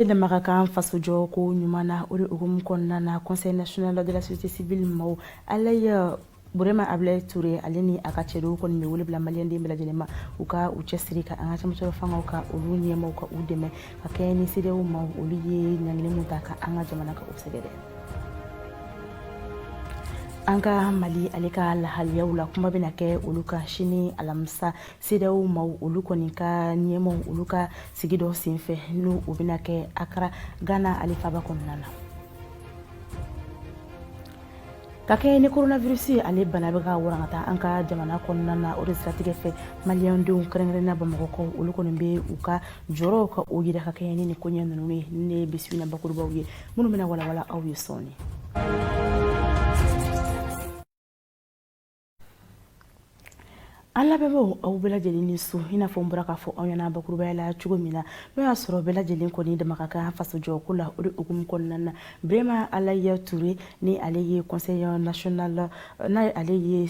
E dama ka kan fasojɔko ɲuman na o de hukumu kɔnɔna na conseil national de la société civile maaw alaye burema abilaye ture ale ni a ka cɛdenw kɔni bɛ wele bila maliden bɛɛ lajɛlen ma u ka u cɛsiri ka an ka cɛmancɛrɔ fangaw ka olu ɲɛmaw ka u dɛmɛ ka kɛɲɛ ni sedeyaw maaw olu ye ɲangili min ta ka an ka jamana ka u sɛgɛrɛ an ka mali ale ka lahaliyaw la kuma bɛna kɛ olu ka sini alamisa CEDEAO maaw olu kɔni ka ɲɛmaw olu ka sigi dɔ senfɛ n'o o bɛna kɛ Akara Ghana ale faaba kɔnɔna na ka kɛɲɛ ni coronavirus ale bana bɛ ka warankata an ka jamana kɔnɔna na o de siratigɛ fɛ maliyɛndenw kɛrɛnkɛrɛnna bamakɔkaw olu kɔni bɛ u ka jɔrɔw ka o yira ka kɛɲɛ ni nin koɲɛ ninnu ye nin ye bi su in na bakurubaw ye minnu bɛna walawala aw ye sɔɔni an lamɛnbaaw aw bɛɛ lajɛlen ni su i n'a fɔ n bɔra k'a fɔ aw ɲɛna bakurubaya la cogo min na n'o y'a sɔrɔ bɛɛ lajɛlen kɔni dama ka kan fasojɔko la o de hukumu kɔnɔna na burema alaye ture ni ale ye conseil national n'a ale ye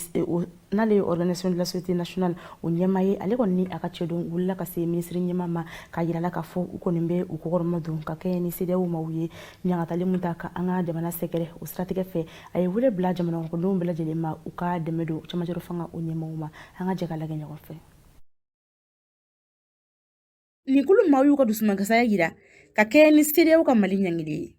n'ale ye organisation de la société nationale o ɲɛma ye ale kɔni ni a ka cɛdenw wulila ka se minisiri ɲɛma ma ka yirala k'a fɔ u kɔni bɛ u kɔkɔrɔma don ka kɛɲɛ ni sedeyaw maaw ye ɲagatali min ta ka an ka jamana sɛgɛrɛ o siratigɛ fɛ a ye wele bila jamanadenw bɛɛ lajɛlen ma u ka dɛmɛ don cɛmancɛrɔ fanga o ɲɛmaw ma an ka jɛ ka lagɛ ɲɔgɔn fɛ nin kulu maaw y'u ka dusumankasaya yira ka kɛɲɛ ni sedeyaw ka mali ɲangili ye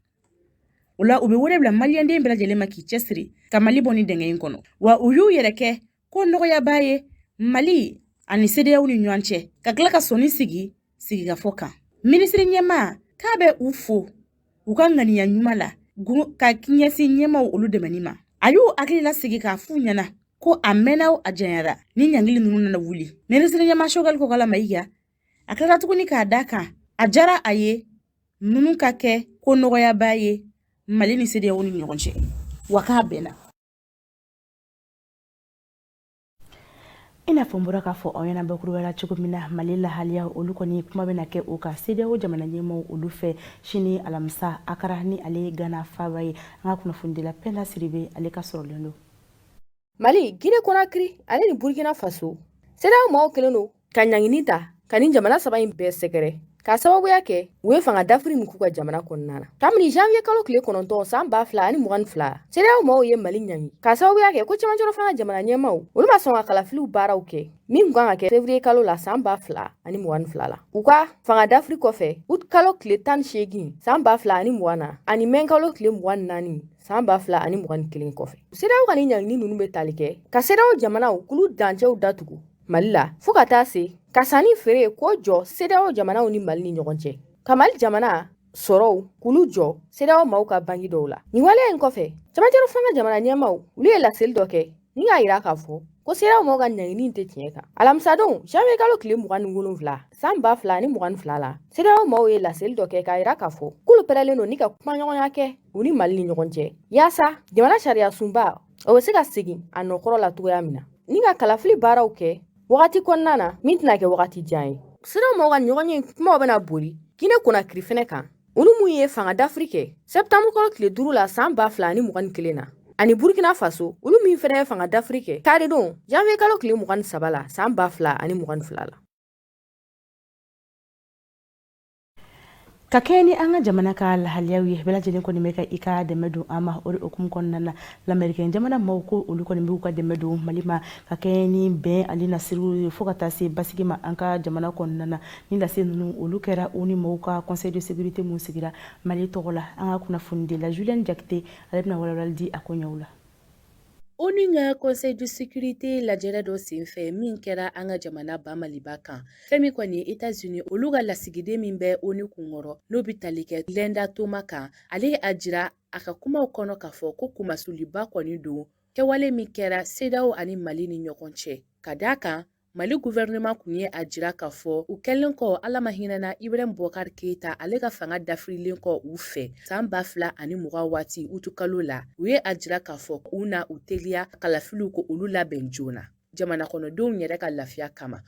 o la u bɛ wele bila maliyɛnden bɛɛ lajɛlen ma k'i cɛsiri ka mali bɔ nin dingɛ in kɔnɔ wa u y'u yɛrɛ kɛ ko nɔgɔyabaa ye mali ani sedeyaw ni ɲɔgɔn cɛ ka tila ka sɔnni sigi sigikafɔ kan minisiri ɲɛma k'a bɛ u fo u ka ŋaniya ɲuman la ka ɲɛsin ɲɛmaw olu dɛmɛni ma a y'u hakili lasigi k'a f'u ɲɛna ko a mɛnna o a janyara ni ɲangili ninnu nana wuli minisiri ɲɛma sogɛli kokala mayiga a tilara tuguni k'a da kan a jara a ye ninnu ka kɛ ko nɔgɔyabaa ye mali ni sedeyaw ni ɲɔgɔn cɛ wa k'a bɛnna i n'a fɔ n bɔra k'a fɔ aw ɲɛna bakurubaya la cogo min na mali lahaliya olu kɔni kuma bɛna kɛ u ka sedeyawo jamana ɲɛmaw olu fɛ sini alamisa akara ni ale ye gana faba ye an ka kunnafonidila pɛnda sidibe ale ka sɔrɔlen don mali gine konakiri ale ni burkina faso sedeyawo maaw kelen don ka ɲangini ta ka nin jamana saba in bɛɛ sɛgɛrɛ k'a sababuya kɛ u ye fanga dafiri min k'u ka jamana kɔnɔna na kabini janviye kalo tile kɔnɔntɔn san ba fila ani mugan ni fila sedeyaw maaw ye mali ɲangi k'a sababuya kɛ ko cɛmancɛrɔ fanga jamana ɲɛmaw olu ma sɔn ka kalafiliw baaraw kɛ min kun kan ka kɛ fevriye kalo la san ba fila ani mugan ni fila la u ka fanga dafiri kɔfɛ ut kalo tile tan ni seegin san ba fila ani mugan na ani mɛ kalo tile mugan ni naani san ba fila ani mugan ni kelen kɔfɛ sedeyaw ka ni ɲangini ninnu bɛ tali kɛ ka sedeyaw jamanaw k'olu dancɛw datugu mali la fɔɔ ka taa se ka sanni feere ko jɔ sedaw jamanaw ni mali ni ɲɔgɔn cɛ ka mali jamana sɔrɔw k'olu jɔ sedaw maw ka bangi dɔw la nin waleya in kɔfɛ camancɛrɔ fanga jamana ɲɛmaw olu ye laseli dɔ kɛ ni k'a yira k'a fɔ ko sedaw maw ka ɲangini tɛ tiɲɛ kan alamisadon janviye kalo tile mugan ni wolonfila san ba fila ni mugan ni fila la sedaw maw ye laseli dɔ kɛ k'a yira k'a fɔ k'olu pɛrɛlen don ni ka kumaɲɔgɔnya kɛ u ni mali ni ɲɔgɔn cɛ yaasa jamana sariya sunba o bɛ se ka segin a nɔ kɔrɔ la cogoya min na ni ka kalafili baaraw kɛ wagati kɔnɔna na min tɛna kɛ wagati jan ye sedaw maw ka ɲɔgɔnye kumaw bɛna boli gine konakiri fɛnɛ kan olu min ye fanga dafiri kɛ sɛptanburu kalo tile duuru la saan ba fila ni mugan ni kelen na ani burkina faso olu min fɛnɛ ye fanga dafiri kɛ karidon janviye kalo tile mugan ni saba la saan ba fila ani mugan ni fila la ka kɛɲɛ ni an ka jamana ka lahaliyaw ye bɛɛ lajɛlen kɔni bɛ ka i ka dɛmɛ don an ma o de hukumu kɔnɔna na lamerikɛn jamana maaw ko olu kɔni b'u ka dɛmɛ don mali ma ka kɛɲɛ ni bɛn ani nasiriw ye fɔɔ ka taa se basigi ma an ka jamana kɔnɔna na ni lase ninnu olu kɛra ONU mɔgɔw ka conseil de sécurité min sigira mali tɔgɔ la an ka kunnafonidila julienne jakite ale bɛna walawalali di a ko ɲɛw la ONU ka conseil de sécurité lajɛrɛ dɔ senfɛ min kɛra an ka jamana ba maliba kan fɛn min kɔni États-Unis olu ka lasigiden min bɛ ONU kunkɔrɔ n'o bɛ tali kɛ Linda Thomas kan ale a jira a ka kumaw kɔnɔ k'a fɔ ko kunmasuliba kɔni don kɛwale min kɛra sedaw ani mali ni ɲɔgɔn cɛ ka d' a kan Mali gouvernement kun ye a jira k'a fɔ u kɛlen kɔ ala ma hinɛna Ibrahim Boubacar Keita ale ka fanga dafirilen kɔ u fɛ san ba fila ani mugan waati utukalo la u ye a jira k'a fɔ u na u teliya kalafiliw ko olu labɛn joona jamanakɔnɔdenw yɛrɛ ka lafiya kama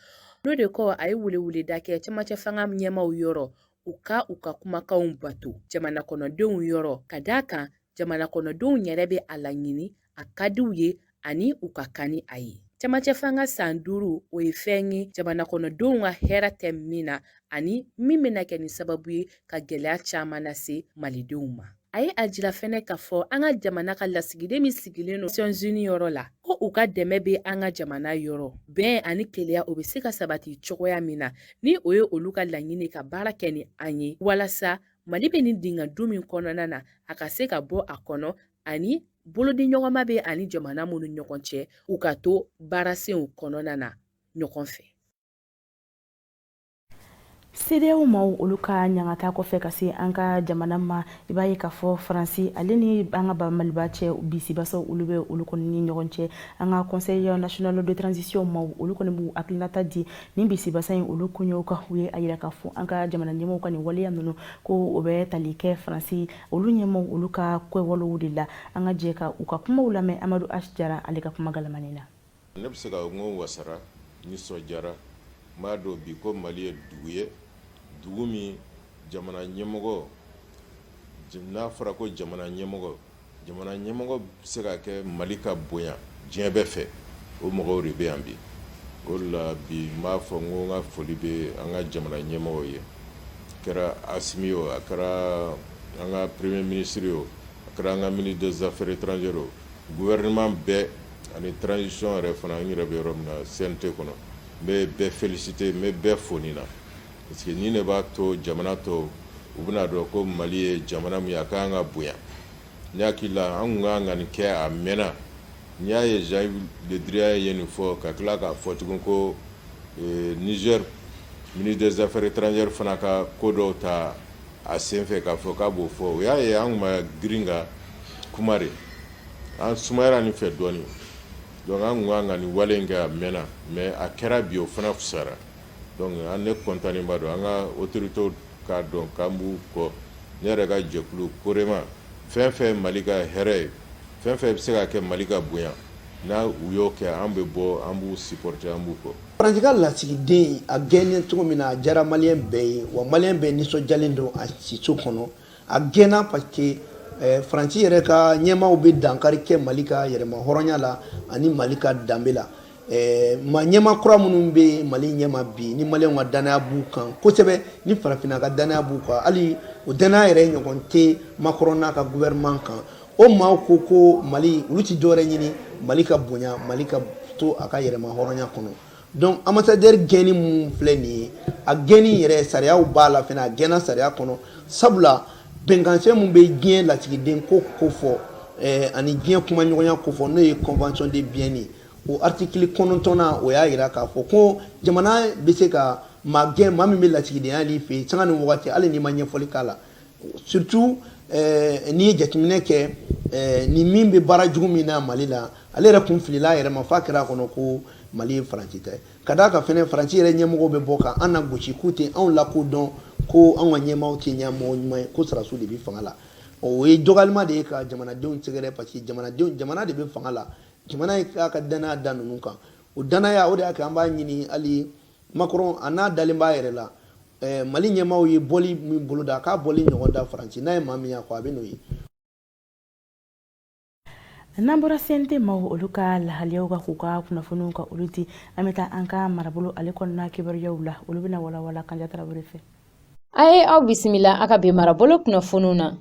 n'o de kɔ a ye weleweleda kɛ cɛmancɛ fanga ɲɛmaw yɔrɔ u ka u ka kumakanw bato jamanakɔnɔdenw yɔrɔ ka d'a kan jamanakɔnɔdenw yɛrɛ bɛ a laɲini a ka di u ye ani u ka kan ni a ye cɛmancɛ fanga san duuru o ye fɛn ye jamanakɔnɔdenw ka hɛrɛ tɛ min na ani min bɛna kɛ ni sababu ye ka gɛlɛya caman lase malidenw ma a ye a jira fɛnɛ k'a fɔ an ka jamana ka lasigiden min sigilen don Nations Unies yɔrɔ la ko u ka dɛmɛ bɛ an ka jamana yɔrɔ bɛn ani kelenya o bɛ se ka sabati cogoya min na ni o ye olu ka laɲini ka baara kɛ ni an ye walasa mali bɛ nin dinga dun min kɔnɔna na a ka se ka bɔ a kɔnɔ ani bolodiɲɔgɔnma bɛ a ni jamana minnu ɲɔgɔn cɛ u ka to baarasenw kɔnɔna na ɲɔgɔn fɛ sedaw maw olu ka ɲangata kɔfɛ ka se an ka jamana ma i b'a ye k'a fɔ faransi ale ni an ka bamaliba cɛ bisibasaw olu bɛ olu kɔni ni ɲɔgɔn cɛ an ka conseil national de transition maw olu kɔni b'u hakilinata di nin bisibasa in olu koɲɛw kan u ye a yira k'a fɔ an ka jamana ɲɛmɔgɔw ka nin waleya ninnu ko o bɛ tali kɛ faransi olu ɲɛmɔgɔw olu ka kɛwalew de la an ka jɛ ka u ka kumaw lamɛn amadu H jara ale ka kuma galamani na ne bɛ se ka n ko wasara nisɔndiyara n b'a dɔn bi ko mali ye dugu ye dugu min jamana ɲɛmɔgɔ n'a fɔra ko jamana ɲɛmɔgɔ jamana ɲɛmɔgɔ bɛ se ka kɛ mali ka bonya diɲɛ bɛɛ fɛ o mɔgɔw de bɛ yan bi o la bi n b'a fɔ n ko n ka foli bɛ an ka jamana ɲɛmɔgɔw ye kɛra asimi o a kɛra an ka premier ministre o a kɛra an ka ministre des affaires étrangères o gouvernement bɛɛ ani transition yɛrɛ fana n yɛrɛ bɛ yɔrɔ min na CNT kɔnɔ n bɛ bɛɛ féliciter n bɛ bɛɛ fo nin na parce que nin de b'a to jamana tɔw bɛna a dɔn ko mali ye jamana min ye a ka kan ka bonya Ne hakili la an kun ka kan ka nin kɛ a mɛnna n'i y'a ye Jean Yves Le Drian ye nin fɔ ka tila k'a fɔ tugun ko ee Niger ministre des affaires étrangères fana ka ko dɔw ta a senfɛ k'a fɔ k'a b'o fɔ o y'a ye an kun ma girin ka kuma de an sumayara nin fɛ dɔɔnin donc an kun ka kan ka nin wale in kɛ a mɛnna mais a kɛra bi o fana fusara Donc an ne contentnenba don an ka autorités k'a dɔn k'an b'u kɔ. Ne yɛrɛ ka jɛkulu COREMA fɛn fɛn ye Mali ka hɛrɛ ye, fɛn fɛn bi se ka kɛ Mali ka bonya na u y'o kɛ an bɛ bɔ an b'u supporter an b'u kɔ. Faransi ka lasigiden a gɛnnen cogo min na, a diyara maliyɛn bɛɛ ye, wa maliyɛn bɛɛ nisɔndiyalen don a siso kɔnɔ. a gɛnna parce que eh, faransi yɛrɛ ka ɲɛmaaw bɛ dankari kɛ mali ka yɛrɛma hɔrɔnya la ani mali ka danbe la eh, mais ɲɛmaa kura minnu bɛ mali ɲɛma bi ni maliyɛnw ka dannaya b'u kan kosɛbɛ ni farafinna ka dannaya b'u kan hali o dannaya yɛrɛ ɲɔgɔn tɛ Macron n'a ka gouvernement kan o maaw ko ko mali olu ti dɔwɛrɛ ɲini mali ka bonya mali ka to a ka yɛrɛma hɔrɔnya kɔnɔ donc ambassadeur gɛnni mun filɛ nin ye a gɛnni yɛrɛ sariyaw b'a la fɛnɛ a gɛnna sariya kɔnɔ sabula bɛnkansɛbɛn mun bɛ diɲɛ lasigidenko kofɔ eh, ani diɲɛ kumaɲɔgɔnya kofɔ n'o ye convention de Vienne ye o artikili kɔnɔntɔnna o y'a yira k'a fɔ ko jamana bɛ se ka maa gɛn maa min bɛ lasigidenya na i fɛ yen sanga ni wagati hali n'i ma ɲɛfɔli k'a la surtout eh, n'i ye jateminɛ kɛ eh, ni min bɛ baara jugu min na mali la ale yɛrɛ kun filila a yɛrɛ ma f'a kɛra a kɔnɔ ko mali ye faransi ta ye ka d'a kan fɛnɛ faransi yɛrɛ ɲɛmɔgɔw bɛ bɔ ka an nagosi k'u tɛ anw lakodɔn ko anw ka ɲɛmaaw tɛ ɲɛmɔgɔ ɲuman ye ko sɔrɔdasiw de bɛ fanga la o ye dɔgɔyaliba de ye ka jamanadenw sɛgɛrɛ parce que jamanadenw jamana de bɛ fanga la jamana ye k'a ka danaya da ninnu kan o danaya o de y'a kɛ an b'a ɲini hali Macron na n'a dalen b'a yɛrɛ la eh, Mali ɲɛmaaw ye bɔli min boloda k'a bɔli ɲɔgɔn da Faransi n'a ye maa min y'a kɔ a bɛn'o ye n'an bɔra CNT maaw olu ka lahaliyaw kan k'u ka kunnafoniw ka olu di an bɛ taa an ka marabolo ale kɔnɔna kibaruyaw la olu bɛna walawala kanja tarawele fɛ a ye aw bisimila a ka bi marabolo kunnafoniw na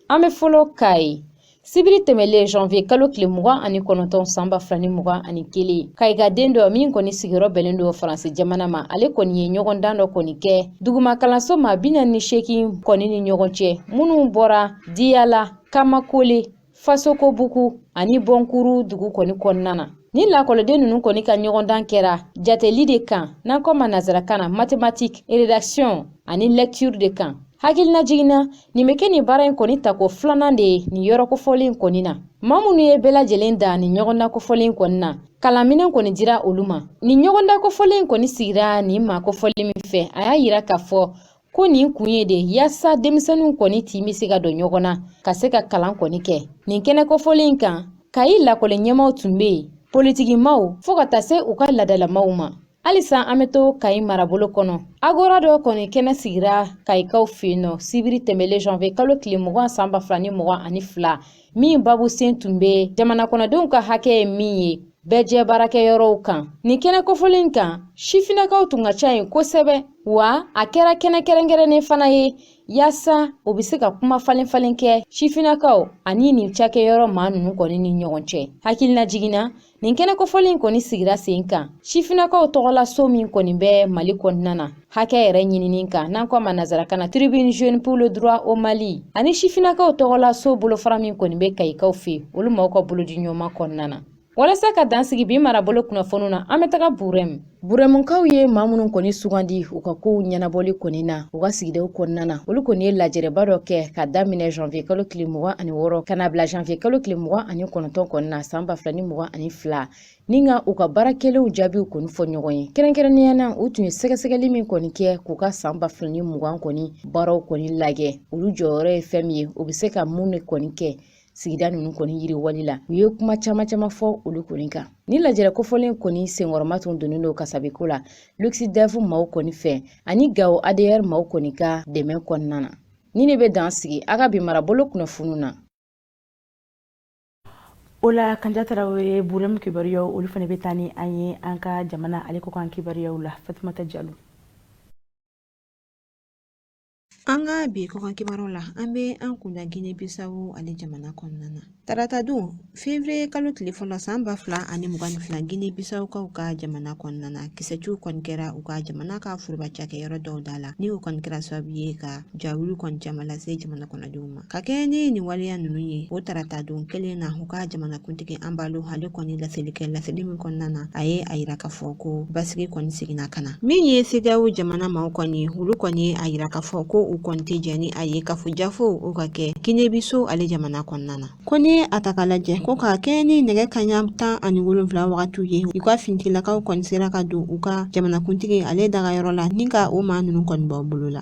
An bɛ fɔlɔ kayi sibiri tɛmɛlen janvier kalo tile mugan ani kɔnɔntɔn san ba fila ni mugan ani kelen kayikaden dɔ min kɔni sigiyɔrɔ bɛnnen don faransi jamana ma ale kɔni ye ɲɔgɔndan dɔ kɔni kɛ duguma kalanso maa bi naani ni seegin kɔni ni ɲɔgɔn cɛ minnu bɔra diyala kamakole fasokobugu ani bɔnkuru dugu kɔni kɔnɔna na ni lakɔliden ninnu kɔni ka ɲɔgɔndan kɛra jateli de kan n'an k'o ma nazarakan na mathématique rédaction ani lecture de kan hakilinajigin na nin bɛ kɛ nin baara in kɔni tako filanan de ye nin yɔrɔ kofɔlen in kɔni na maa minnu ye bɛɛ lajɛlen dan nin ɲɔgɔndan kofɔlen in kɔni na kalanminɛn kɔni dira olu ma nin ɲɔgɔndan kofɔlen in kɔni sigira nin maa kofɔlen min fɛ a y'a yira k'a fɔ ko nin kun ye de yaasa denmisɛnninw kɔni tin bɛ se ka don ɲɔgɔn na ka se ka kalan kɔni kɛ nin kɛnɛ kofɔlen in kan kayi lakɔli ɲɛmaaw tun bɛ yen politikimaaw fɔɔ ka taa se u ka laadalamaaw ma halisa an bɛ to kayi marabolo kɔnɔ agora dɔ kɔni kɛnɛ sigira kayikaw fɛ yen nɔ sibiri tɛmɛlen janvier kalo tile mugan san ba fila ni mugan ani fila min babu sen tun bɛ jamanakɔnɔdenw ka hakɛ ye min ye bɛɛ jɛ baarakɛyɔrɔw kan nin kɛnɛ kofɔlen in kan sifinnakaw tun ka ca yen kosɛbɛ wa a kɛra kɛnɛ kɛrɛnkɛrɛnnen fana ye yaasa o bɛ se ka kuma falen falen kɛ sifinnakaw ani nin cakɛyɔrɔ maa ninnu kɔni ni ɲɔgɔn cɛ hakilinajigin na Nin kɛnɛ kofɔlen in kɔni sigira sen kan sifinnakaw tɔgɔla so min kɔni bɛ Mali kɔnɔna na hakɛ yɛrɛ ɲinini kan n'an ko a ma nazarakan na tribune jeune pour le droit au Mali ani sifinnakaw tɔgɔla so bolofara min kɔni bɛ Kayikaw fɛ olu maaw ka bolodiɲɔgɔnma kɔnɔna na walasa ka dan sigi bi marabolo kunnafoniw na an bɛ taga Burɛmu Burɛmukaw ye maa minnu kɔni sugandi u ka kow ɲɛnabɔli kɔni na u ka sigidaw kɔnɔna na olu kɔni ye lajɛrɛba dɔ kɛ ka daminɛ janvier kalo tile mugan ani wɔɔrɔ ka n'a bila janvier kalo tile mugan ani kɔnɔntɔn kɔni na saan ba fila ni mugan ani fila ni ka u ka baara kɛlenw jaabiw kɔni fɔ ɲɔgɔn ye kɛrɛnkɛrɛnnenya na u tun ye sɛgɛsɛgɛli min kɔni kɛ k'u ka saan ba fila ni mugan kɔni baaraw kɔni lajɛ olu jɔyɔrɔ ye fɛn min ye u be se ka mun de kɔni kɛ sigida ninnu kɔni yiriwali la u ye kuma caman caman fɔ olu kɔni kan nin lajɛrɛ kofɔlen kɔni senkɔrɔma tun donnen don kasabiko la luxdev maaw kɔni fɛ ani gawo adr maaw kɔni ka dɛmɛ kɔnɔna na nin de bɛ dan sigi an ka bi marabolo kunnafoniw na o la kanja tarawele burɛmu kibaruyaw olu fana bɛ taa ni an ye an ka jamana ale kɔkan kibaruyaw la fatumata jalo An ka bi kɔkan kibaruw la, an bɛ an kun da Gine Bisawo ale jamana kɔnɔna na. Tarata don fevriye kalo tile fɔlɔ san ba fila ani mugan ni fila Gine Bisawukaw ka jamana kɔnɔna na, kisɛciw kɔni kɛra u ka jamana ka foroba cakɛyɔrɔ dɔw da la, ni o kɔni kɛra sababu ye ka jawuli kɔni caman lase jamana kɔnɔdenw ma. ka kɛɲɛ ni nin waleya ninnu ye o tarata don kelen na u ka jamanakuntigi anbalo ale kɔni laseli kɛ laseli min kɔnɔna na a ye a yira k'a fɔ ko basigi kɔni seginna ka na min ye sedawo jamana maaw kɔni olu kɔni ye a yira k'a fɔ ko u kɔni tɛ jɛn ni a ye kafojafo o ka kɛ kinebiso ale jamana kɔnɔna na ko ni a ta k'a lajɛ ko ka kɛɲɛ ni nɛgɛ kaɲa tan ani wolonfila wagatiw ye u ka fintigilakaw kɔni sera ka don u ka jamanakuntigi ale dagayɔrɔ la ni ka o maa ninnu kɔni bɔ u bolo la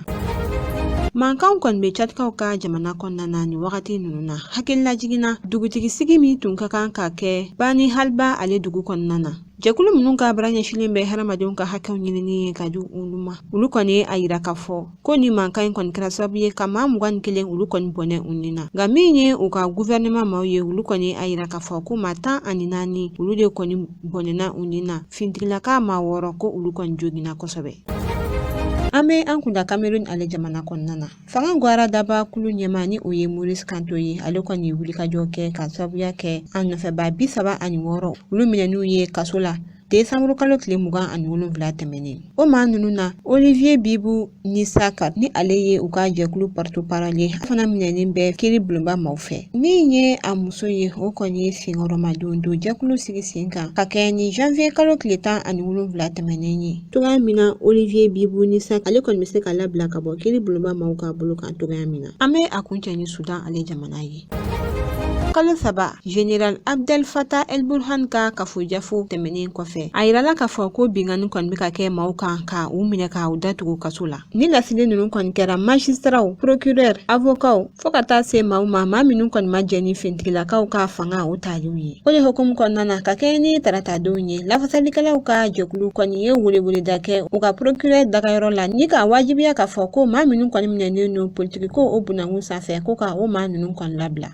Mankanw kɔni bɛ Tchadkaw ka jamana kɔnɔna na nin wagati ninnu na, hakililajigin na dugutigisigi min tun ka kan ka kɛ Bani Halba ale dugu kɔnɔna na. Jɛkulu minnu ka baara ɲɛsinlen bɛ hadamadenw ka hakɛw ɲinini ye ka di olu ma, olu kɔni ye a yira k'a fɔ ko nin mankan in kɔni kɛra sababu ye ka maa mugan ni kelen olu kɔni bɔnɛ u ni na. Nka min ye u ka guvɛrɛnɛman maaw ye, olu kɔni ye a yira k'a fɔ ko maa tan ani naani olu de kɔni bɔnɛna u ni na. finitigilaka maa wɔɔrɔ ko olu kɔni joginna kosɛbɛ an bɛ an kun da kamerun ale jamana kɔnɔna na fanga gwara daba kulu ɲɛmaa ni o ye maurice kamto ye ale kɔni ye wulikajɔ kɛ ka sababuya kɛ a nɔfɛbaa bi saba ani wɔɔrɔ olu minɛniw ye kaso la desanburukalo tile mugan ani wolonfila tɛmɛnen o maa ninnu na olivier bibu nissack ni ale ye u ka jɛkulu porte-parole ye a fana minɛnen bɛ kiri bulonba maaw fɛ min ye a muso ye o kɔni ye senkɔrɔmadondon jɛkulu sigi sen kan ka kɛɲɛ ni janvier kalo tile tan ani wolonfila tɛmɛnen ye cogoya min na olivier bibu nissack ale kɔni bɛ se ka labila ka bɔ kiri bulonba maaw ka bolo kan cogoya min na an bɛ a kuncɛ ni sudan ale jamana ye kalo saba General Abdel Fattah El Burhan ka kafojafo tɛmɛnen kɔfɛ a yirala k'a fɔ ko binkanni kɔni bɛ ka kɛ maaw kan ka u minɛ ka u datugu kaso la nin lasili ninnu kɔni kɛra majisitaraw procureur avokaw fɔɔ ka taa se maaw ma maa minnu kɔni ma jɛn ni fintigilakaw ka fanga o taliw ye o de hukumu kɔnɔna na ka kɛɲɛ ni taratadenw ye lafasalikɛlaw ka jɛkulu kɔni ye weleweleda kɛ u ka procureur dagayɔrɔ la ni k'a wajibiya k'a fɔ ko maa minnu kɔni minɛnen don politikiko o bunakun san fɛ ko ka o maa ninnu kɔni labila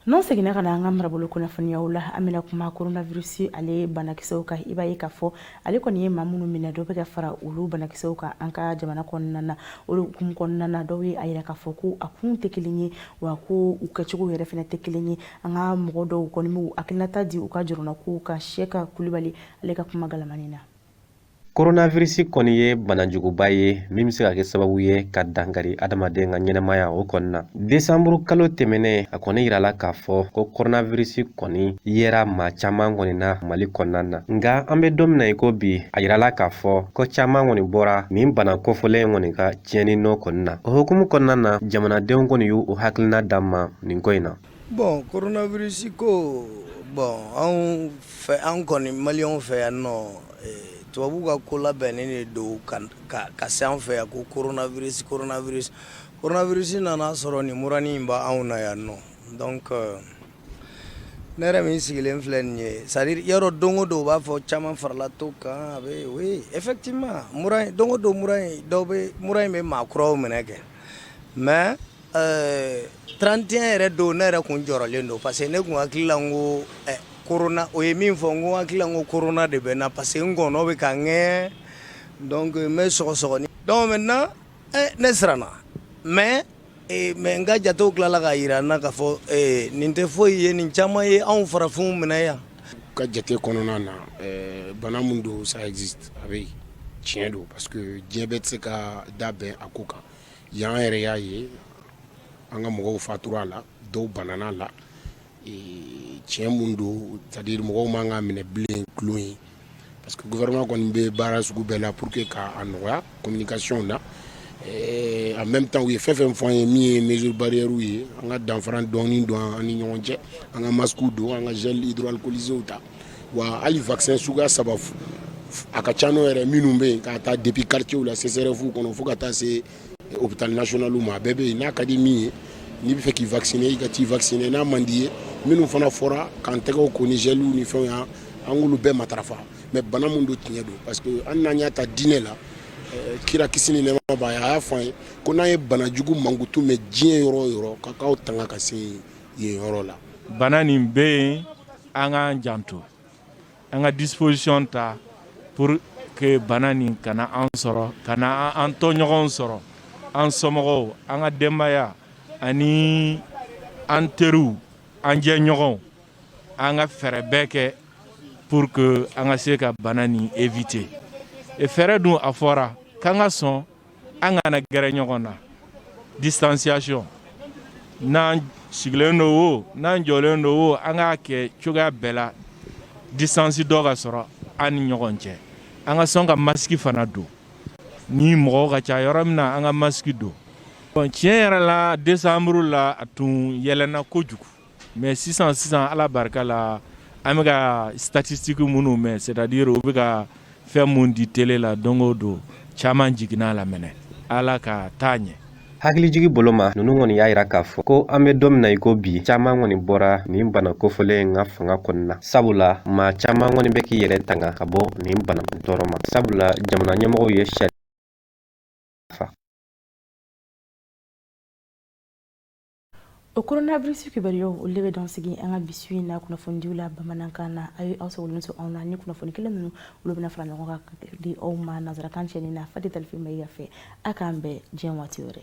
n'an seginna ka na an ka marabolo kunnafoniyaw la an bɛna kuma coronavirus ale banakisɛw kan i b'a ye k'a fɔ ale kɔni ye maa minnu minɛ dɔ bɛ ka fara olu banakisɛw kan an ka jamana kɔnɔna na o hukumu kɔnɔna na dɔw ye a yira k'a fɔ ko a kun tɛ kelen ye wa ko u kɛcogo yɛrɛ fana tɛ kelen ye an ka mɔgɔ dɔw kɔni b'u hakilinata di u ka jɔrɔnakow kan Siyɛka Kulibali ale ka kuma galamani na Koronavirisi kɔni ye banajuguba ye min bɛ se ka kɛ sababu ye ka dankari adamaden ka ɲɛnamaya o kɔni na desanburu kalo tɛmɛnen a kɔni yirala k'a fɔ ko koronavirisi kɔni yera maa caman kɔni na mali kɔnɔna na nka an bɛ don min na i ko bi a yirala k'a fɔ ko caman kɔni bɔra nin bana kofɔlen kɔni ka tiɲɛni nɔ kɔni na o hukumu kɔnɔna na jamanadenw kɔni y'u hakilina d'an ma nin ko in na Bɔn koronabirisi ko bɔn anw fɛ an kɔni maliyɛnw fɛ yan nɔ tubabu ka ko labɛnnen de don ka se an fɛ yan ko koronabirisi koronabirisi koronabirisi nana sɔrɔ nin muranin in b'anw na yan nɔ donc ne yɛrɛ min sigilen filɛ nin ye c'est-à-dire yɔrɔ don o don u b'a fɔ caman farala tɔ kan a bɛ oui effectivement don o don mura in dɔw bɛ mura in bɛ maa kuraw minɛ kɛ mais Ɛɛ trente et un yɛrɛ don ne yɛrɛ kun jɔrɔlen don parce que ne kun hakili la ko korona o ye min fɔ n ko hakili la ko korona de bɛ n na parce que n gɔnɔ bɛ ka n ŋɛɲɛ n bɛ sɔgɔsɔgɔni donc maintenant ne siranna mais n ka jatew tilala k'a jira n na k'a fɔ nin tɛ foyi ye nin caman ye anw farafinw minɛ yan ka jate kɔnɔna na bana min don ça existe a bɛ tiɲɛ don parce que diɲɛ bɛɛ tɛ se ka da bɛn a ko kan Yan yɛrɛ y'a ye an ka mɔgɔw fatura a la dɔw banana a la tiɲɛ min don c'est-à-dire mɔgɔw man k'a minɛ bilen tulon ye parce que gouvernement kɔni bɛ baara sugu bɛɛ la pour que k'a nɔgɔya communication na en même temps u ye fɛn o fɛn fɔ an ye min ye mesure barrièrew ye an ka danfara dɔɔnin don an ni ɲɔgɔn cɛ an ka masque don an ka gel hydroalcoolisé ta wa hali vaccin suguya saba a ka ca n'o yɛrɛ minnu bɛ yen k'a ta depuis quartierw la CSRéf kɔnɔ fo ka taa se hôpital national ma a bɛɛ bɛ yen n'a ka di min ye n'i bɛ fɛ k'i vacciner i ka t'i vacciner n'a man d'i ye minnu fana fɔra k'an tɛgɛw ko ni gɛliw ni fɛnw y'an an k'olu bɛɛ matarafa mais bana min don tiɲɛ don parce que an n'an y'a ta diinɛ la eh, kira kisi ni nɛɛma b'a ye a y'a fɔ an ye ko n'an ye bana jugu mankutu mɛn diɲɛ yɔrɔ o yɔrɔ k'a k'aw tanga ka se yen yɔrɔ la bana nin bɛ yen An k'an janto an ka disposition ta pour que bana nin kana an sɔrɔ kana an tɔɲɔgɔnw sɔrɔ an somɔgɔw an ka denbaya ani an teriw an jɛɲɔgɔnw an ka fɛɛrɛ bɛɛ kɛ pour que an ka se ka bana nin éviter et fɛɛrɛ dun a fɔra k'an ka sɔn an kana gɛrɛ ɲɔgɔn na distanciation n'an sigilen don o n'an jɔlen don o an k'a kɛ cogoya bɛɛ la distance dɔ ka sɔrɔ an ni ɲɔgɔn cɛ an ka sɔn ka masque fana don ni mɔgɔw ka ca yɔrɔ min na an ka masque don tiɲɛ yɛrɛ la décembre la a tun yɛlɛnna kojugu Mais sisan sisan ala barika la an bɛka ka statistiquew minnu mɛn c'est-à-dire u bɛ ka fɛn minnu di télé la don o don caman jiginna a la ala ka taa ɲɛ hakilijigin bolo ma ninnu kɔni y'a jira k'a fɔ ko an bɛ don min na i ko bi caman kɔni bɔra nin bana kofɔlen in ka fanga kɔnɔna na sabula maa caman kɔni bɛ k'i yɛrɛ tanga ka bɔ nin bana tɔɔrɔ ma sabula jamana ɲɛmɔgɔw ye sariya o coronavirus kibaruyaw olu de bɛ dan sigi an ka bi su in na kunnafonidiw la bamanankan na a ye aw sigilen to aw nɔ na kunnafoni kelen ninnu olu bɛna fara ɲɔgɔn kan ka di aw ma nanzarakan cɛnni na fati talifi mayiga fɛ a k'an bɛɛ jɛn waati wɛrɛ